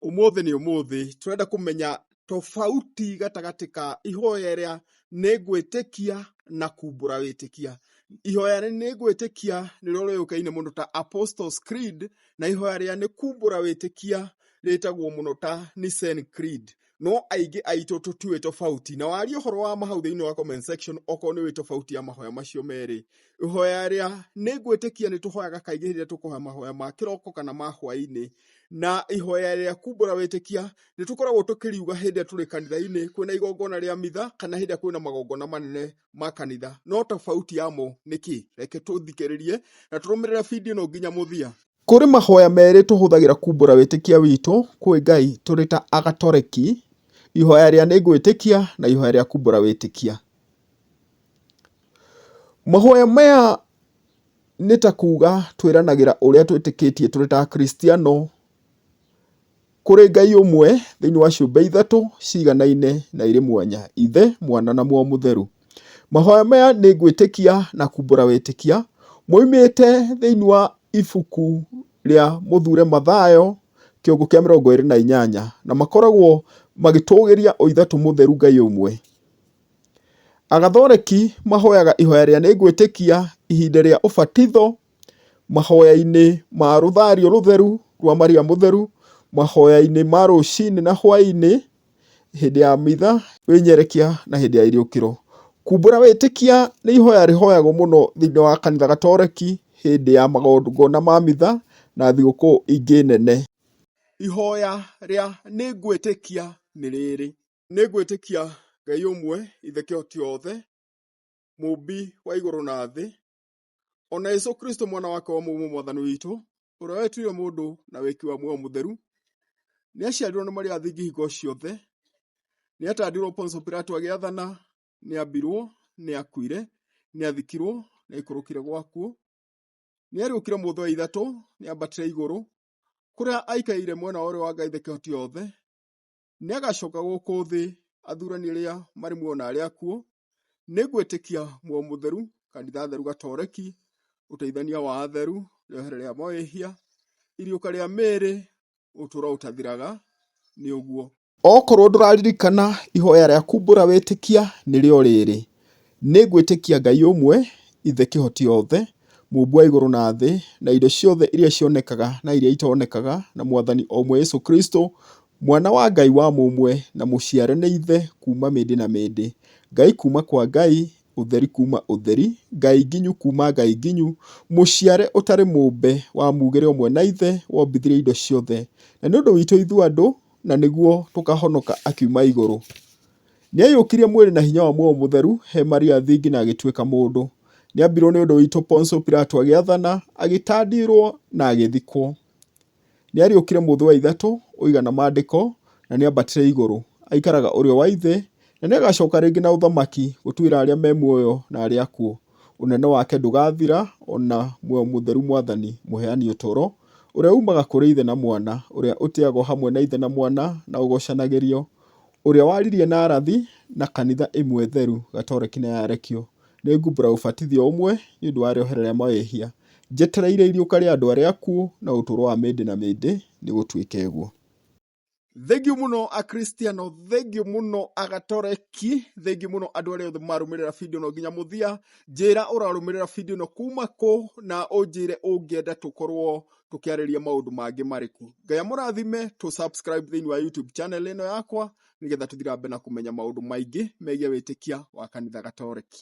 Ũmũthĩ nĩ ũmũthĩ, tũrenda kũmenya tofauti gatagatĩ ka ihoya rĩa nĩ ngwĩtĩkia na kumbũra wĩtĩkia. Ihoya rĩa nĩ ngwĩtĩkia nĩrĩo rĩũĩkaine mũno ta Apostles Creed, na ihoya rĩa nĩ kumbũra wĩtĩkia rĩtagwo mũno ta Nicene Creed. no aingĩ aitũ tũtiũĩ tofauti na waria ũhoro wa mahau thĩinĩ wa comment section okorwo nĩ ũĩ tofauti ya mahoya macio merĩ ihoya rĩa nĩ ngwĩtĩkia nĩ tũhoyaga kaingĩ rĩrĩa tũkũhoya mahoya ma kĩroko kana ma hwainĩ na ihoya rĩa kumbũra wĩtĩkia nĩ tũkoragwo tũkĩriuga hĩndĩ ĩrĩa tũrĩ kanitha-inĩ kwĩna igongona rĩa mitha kana hĩndĩ ĩrĩa kwĩna magongona manene ma kanitha no tofauti yamo nĩ kĩ reke tũthikĩrĩrie na tũrũmĩrĩre bindio ĩno nginya mũthia kũrĩ mahoya merĩ tũhũthagĩra kumbũra wĩtĩkia witũ kwĩ ngai tũrĩ ta agatoreki ihoya rĩa nĩ ngwĩtĩkia na ihoya rĩa kumbũra wĩtĩkia mahoya maya nĩ ta kuga twĩranagĩra ũrĩa twĩtĩkĩtie tũrĩ ta akristiano Kũrĩ Ngai ũmwe thĩinĩ wa ciũmbe ithatũ ciiganaine na irĩ mwanya, Ithe, Mwana, na Muoyo Mũtheru. Mahoya maya nĩ ngwĩtĩkia na kumbũra wĩtĩkia, moimĩte thĩinĩ wa ibuku rĩa Mũthuure Mathayo, kĩongo kĩa mĩrongo ĩrĩ na inyanya, na makoragwo magĩtũgĩria o Ithatũ Mũtheru Ngai ũmwe. Agathoreki mahoyaga ihoya rĩa nĩ ngwĩtĩkia ihinda rĩa ũbatitho. mahoya-inĩ ma rũthario rũtheru rwa Maria Mũtheru, mahoya-inĩ ma rũcinĩ na hwaĩ-inĩ, hĩndĩ ya mitha, wĩnyerekia na hĩndĩ ya irĩũkĩro. Kumbũra wĩtĩkia nĩ ihoya rĩhoyagwo mũno thĩinĩ wa kanitha gatoreki hĩndĩ ya magongona ma mitha na thigũkũ ingĩ nene. Ihoya rĩa nĩ ngwĩtĩkia nĩ rĩrĩ, nĩ ngwĩtĩkia Ngai ũmwe, Ithe Kĩhoti-gĩothe, Mũũmbi wa igũrũ na thĩ, o na Jesũ Kristũ mwana wake wa mũmwe Mwathani witũ, ũrĩa wetuire mũndũ na wĩki wa muoyo mũtheru, nĩaciarirwo nĩ Maria thingi hingo ciothe, nĩatandirwo Ponso Pilato agĩathana, nĩambirwo, nĩakuire, nĩathikirwo, nĩaikũrũkire gwakuo, nĩariũkire mũthĩ wa ithatũ, nĩambatire igũrũ, kũrĩa aikaire mwena wa ũrĩo wa Ngai thĩ kĩhoti yothe, nĩagacoka gũkũ thĩ athurani arĩa marĩ muoyo na arĩa akuũ, nĩngwĩtĩkia muoyo mũtheru, kanitha theru gatoreki, ũteithania wa atheru, rĩohere rĩa mawĩhia, iriũka rĩa mĩĩrĩ, ũtũũro ũtathiraga, nĩ ũguo. Okorwo ndũraririkana ihoya rĩa kumbũra wĩtĩkia nĩrĩo rĩrĩ, nĩngwĩtĩkia Ngai ũmwe, Ithe kĩhoti othe, mũmbi wa igũrũ na thĩ, na indo ciothe iria cionekaga na iria itonekaga, na Mwathani o ũmwe Yesu Kristo, Mwana wa Ngai wa mũmwe na mũciare nĩ Ithe kuuma mĩndĩ na mĩndĩ, Ngai kuuma kwa Ngai, ũtheri kuuma ũtheri, Ngai nginyu kuuma Ngai nginyu, mũciare ũtarĩ mũmbe, wa muugĩre ũmwe na Ithe, wombithirie indo ciothe, na nĩ ũndũ witũ ithuĩ andũ, na nĩguo tũkahonoka akiuma igũrũ. Nĩaiyũkirie mwĩrĩ na hinya wa Muoyo Mũtheru he Maria thingi na agĩtuĩka mũndũ. Nĩambirwo nĩ ũndũ witũ Ponso Pilato agĩathana, agĩtandirwo na agĩthikwo. Nĩariũkire mũthĩ wa ithatũ ũiga na maandĩko, na nĩambatire igũrũ. Aikaraga ũrĩo wa Ithe, na nĩagacoka rĩngĩ na ũthamaki gũtuĩra arĩa me muoyo na arĩa akuũ. Ũnene wake ndũgathira, o na Muoyo Mũtheru Mwathani, Mũheani Ũtũũro, ũrĩa uumaga kũrĩ Ithe na Mwana, ũrĩa ũtĩagwo hamwe na Ithe na Mwana na ũgoocanagĩrio, ũrĩa waririe na arathi, na kanitha ĩmwe theru, gatoreki na yarekio, Nĩngumbũra ũbatithio ũmwe nĩ ũndũ wa rĩohero rĩa mawĩhia, njetereire iriũka rĩa andũ arĩa akuũ na ũtũũro wa mĩndĩ na mĩndĩ, nĩ gũtuĩke ũguo. Thengiũ mũno Akristiano, thengiũ mũno Agatoreki, thengiũ mũno andũ arĩa othe marũmĩrĩra video ĩno nginya mũthia. Njĩra ũrarũmĩrĩra video ĩno kuma kũ na ũnjĩre ũngĩenda tũkorwo tũkĩarĩria maũndũ mangĩ marĩkũ. Ngai amũrathime, tũ subscribe thĩinĩ wa YouTube channel ĩno yakwa, nĩgetha tũthiĩ na mbere na kũmenya maũndũ maingĩ megiĩ wĩtĩkia wa kanitha gatoreki.